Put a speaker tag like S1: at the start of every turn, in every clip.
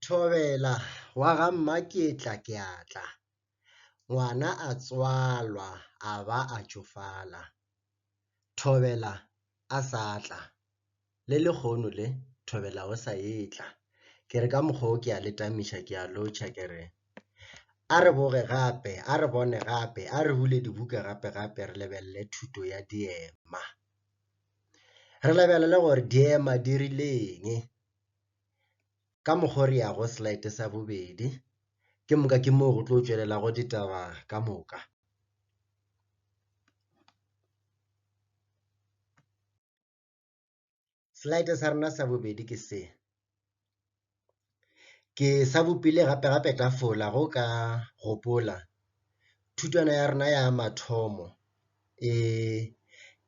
S1: Thobela wa ga Mmaketla ke a tla. Ngwana a tswalwa a ba a tšofala. Thobela a sa tla, le lehono le Thobela o sa etla. Ke re ka mokgwa wo ke a le tamiša ke a lotšha ke re, A re boge gape, a re bone gape, a re bule dibuka gape-gape re lebelele thuto ya diema. Re lebelele gore diema di rile eng, ka mokgwa o re ya go slide sa bobedi, ke moka ke moo go tlo tšwelelago ditaba ka moka. Slide sa rena sa bobedi ke se. Ke sa bopile gape-gape tafola go ka gopola thutwana ya rena ya mathomo e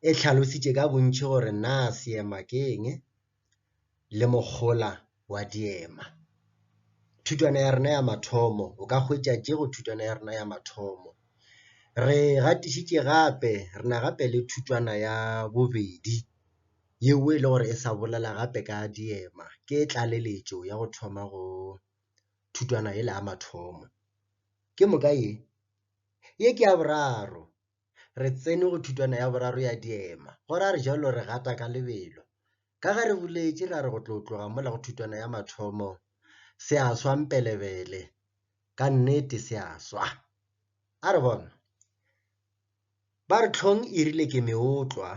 S1: e tlhalositše ka bontši gore na seema ke eng le mohola wa diema. Thutwana ya rena ya mathomo, o ka hwetša tše go thutwana ya rena ya mathomo. Re gatišitše gape, re na gape le thutwana ya bobedi. yeo e le gore e sa bolela gape ka diema ke tlaleletšo ya go thoma go thutwana yela ya mathomo. Ke moka ye? Ye ke ya boraro. Re tsene go thutwana ya boraro ya diema, go ra re jalo re gata ka lebelo. Ka ge re boletše ra re go tlo tloga mola go thutwana ya mathomo, se a swa mpelebele, ka nnete se a swa. A re bona, ba re hlong e rile ke meotlwa,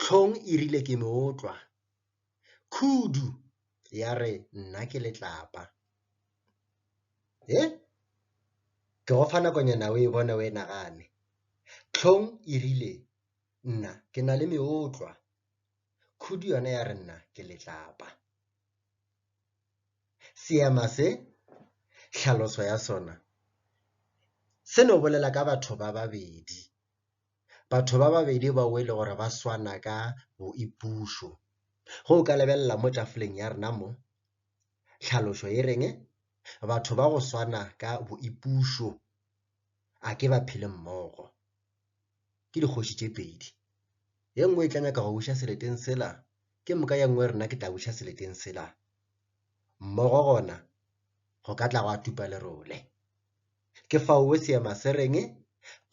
S1: Hlong e rile ke no tlwa. Khudu ya re nna ke letlapa. He? Ke go fa nakonyana o e bone o e nagane. Hlong e rile nna ke na le meotlwa. Khudu yona ya re nna ke letlapa. Seema se, tlhaloso ya sona, se no bolela ka batho ba babedi Batho ba babedi bao e le gore ba swana ka boipušo. Go o ka lebelela mo tafoleng ya rena mo, tlhalošo e reng? Batho ba go swana ka boipušo a ke ba phele mmogo. Ke dikgoši tše pedi. Ye nngwe e tla nyaka go buša seleteng sela, ke moka ye nngwe rena ke tla buša seleteng sela. Mmogo gona go ka tla go a tupa lerole. Ke faowe seema se reng,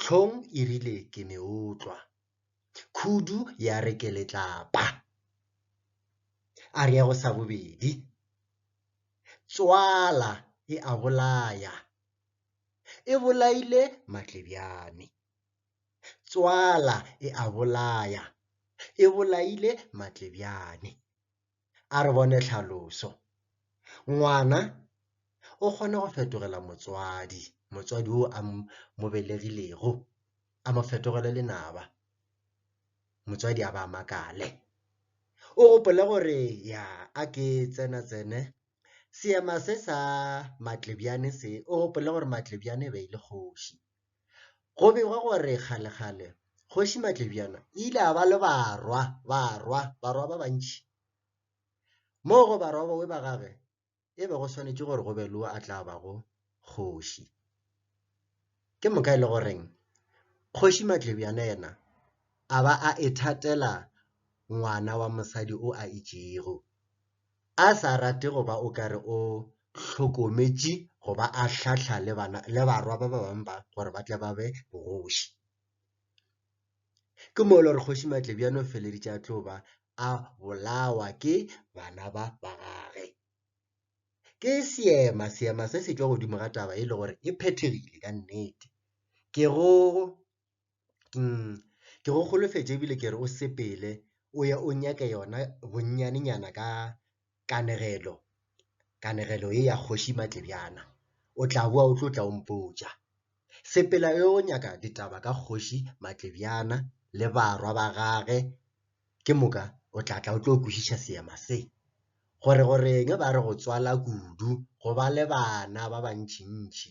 S1: Tlhong e rile ke meotlwa. Khudu ya re ke letlapa. Ariago sa bobedi, Tswala e a bolaya. E bolaile Matlebjane. Tswala e a bolaya. E bolaile Matlebjane. A re bone tlhaloso. Ngwana o kgona go fetogela motswadi, motswadi o a mo belegilego, a mo fetogele lenaba, motswadi a ba a makale. O gopole gore ya a ke tsena tsene, seema se sa Matlebjane se, o gopole gore Matlebjane e be e le kgoši. Go begwa gore kgalekgale Kgoši Matlebjana o ile a ba le barwa, barwa, barwa ba bantši. Mo go barwa bawe ba gage e be go swanetše gore go be le o a tla bago kgoši. Ke moka e le goreng Kgoši Matlebjana yena a ba a ithatela ngwana wa mosadi o a itšego. a sa rate go ba o ka re o hlokometše go ba a hlahla le, bana, le barwa ba ba bangwe ba gore ba tle ba be bogoši. Ke moo le gore kgoši Matlebjane o feleditše a tlo ba a bolawa ke bana ba ba gage. Ke seema, seema se se tšwa godimo ga taba e le gore e phethegile ka nnete. Ke go Ke go holofetše ebile ke re o sepele o ye o nyake yona bonnyanenyana ka kanegelo, kanegelo ye ya kgoši Matlebjana, o tla bowa o tlo tla o mpotša. Sepela o ye o nyaka ditaba ka kgoši Matlebjana le barwa ba gage, ke moka o tla tla o tlo kwešiša seema se. Gore go reng ba re go tswala kudu go ba le bana ba bantšintši.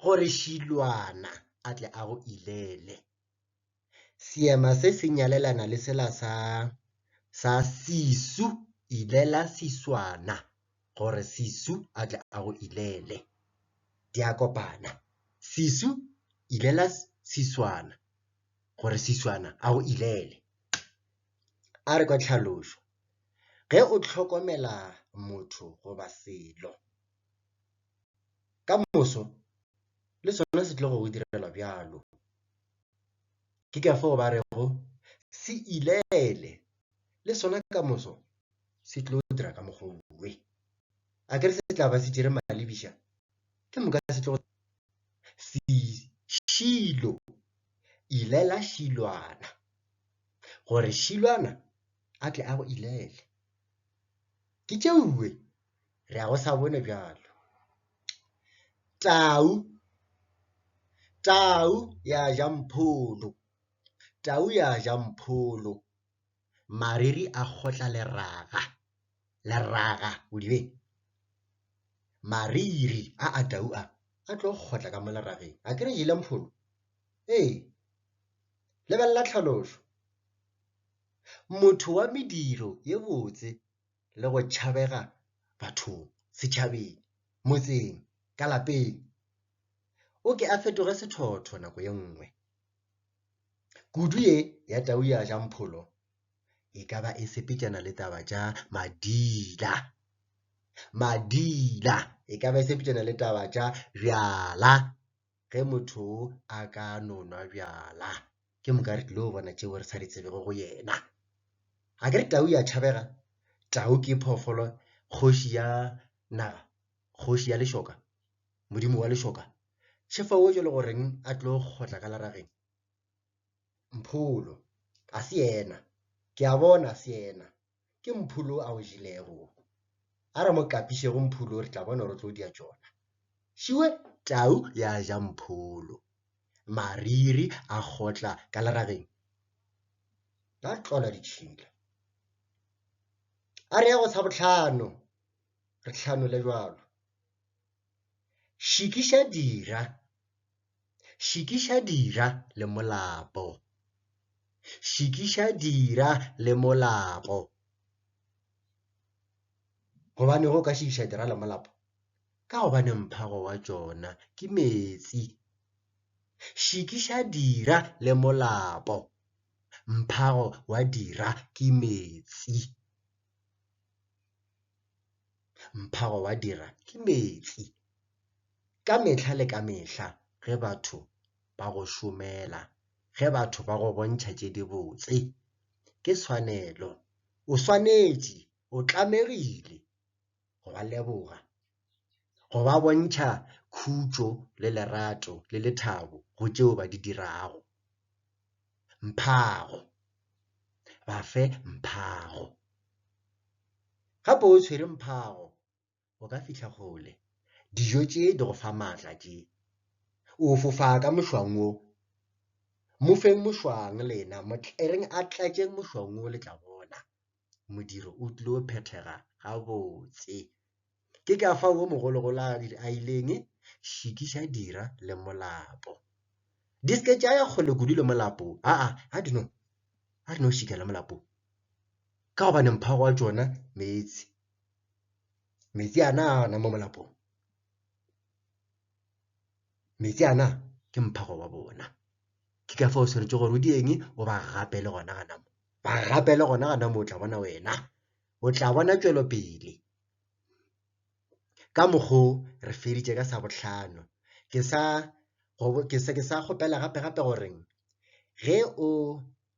S1: gore šilwana a tle a go ilele. Seema se se nyalelana le sela sa sa sisu ilela siswana gore sisu a tle a go ilele. Di a kopana. Sisu ilela siswana gore siswana a go ilele. A re kwa tlhalošo, ge o hlokomela motho goba selo, Ka moso le sona se tlogo go direla bjalo. Ke ka fao ba rego, Se ileele! Le sona ka moso se tlo dira ka mokgwa woo. A ke re se tla ba se tšere malebiša? Ke moka se tlogo Šilo! Ilela Šilwana, gore Šilwana a tle a go ilele. Ke tšeoe Re a go sa bone bjalo. Tau. Tau ya ja mpholo. Tau ya ja mpholo. Mariri a kgotla leraga. Leraga, o di beng? Mariri a a tau a, a tlo kgotla ka mo lerageng. A ke re jele mpholo? Ee. Lebelela tlhalošo. Motho wa mediro ye botse le go tšhabega bathong, setšhabeng, motseng, ka lapeng. O ke a fetoge sethotho nako ye nngwe. Kudu ye ya tau ya ja mpholo e ka ba e sepetšana le taba tša madila. Madila e ka ba e sepetšana le taba tša bjala. ge motho a ka no nwa bjala ke moka re tlilo bona tšeo re sa di tsebego go yena ga ke re tau ya tšhabega tau ke phoofolo kgoši ya naga kgoši ya lešoka modimo wa lešoka šefa o jalo goreng a tlo kgotla ka larageng mpholo a se yena ke a bona se yena ke mpholo a o jelego wo. A re mo kapišego mpholo re tla bona gore o tlo dia tšona. Šiwe tau ya ja mpholo, mariri a kgotla ka lerageng. Ba tlola ditšhila. A re ya go sa botlhano, re tlhanole bjalo. Šikiša dira. Šikiša dira le molapo. Šikiša dira le molapo. Gobane go ka šikiša dira le molapo? Ka gobane mphago wa tšona ke meetse. Šikiša dira le molapo. Mphago wa dira ke meetse. Mphago wa dira ke meetse. Ka mehla le ka mehla ge batho ba go šomela, ge batho ba go bontšha tše dibotse, ke tshwanelo. O swanetše, o tlamegile go ba leboga. go ba bontšha khutšo le lerato le lethabo go tšeo ba di dirago. Mphago. Ba fe mphago. Gape o tshwere mphago, o ka fihla kgole. Dijo tše di go fa maatla tše. O fofa ka mošwang wo. Mo feng mošwang lena, mo tlereng a tlatše mošwang wo le tla bona. modiro o tlilo phethega gabotse ke ka fa wo mogologolo a dire a ileng šikiša dira le molapo di se ke tša ya kgole kudu le molapo a a a dino a dino šika le molapo ka gobane mphago wa tšona meetse meetse ana a ona mo molapong meetse ana ke mphago wa bona ke ka fa o swanetše gore o di eng o ba gapele gona gana mo ba gapele gona gana mo o tla bona wena o tla bona tšwelopele ka mokgo re feditše ka sa bohlano ke sa ke sa ke sa kgopela gape gape goreng ge o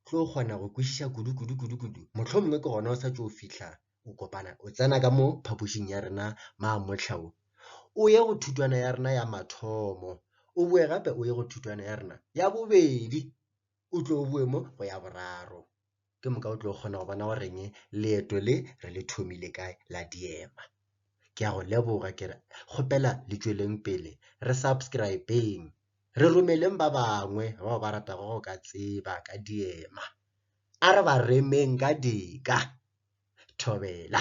S1: tlo kgona go kwešiša kudu kudu kudu kudu mohlomongwe ke gona o sa tšo fihla o kopana o tsena ka mo phapošing ya rena maamotlha o o ye go thutwana ya rena ya mathomo o boe gape o ye go thutwana ya rena ya bobedi o tlo o boe mo go ya boraro ke moka o tlo kgona go bona goreng leeto le re le thomile kae la diema ke ya go leboga ke re kgopela le tšweleng pele re subscribeng re romeleng ba bangwe bao ba ratago go ka tseba ka diema a re ba remeng ka dika thobela.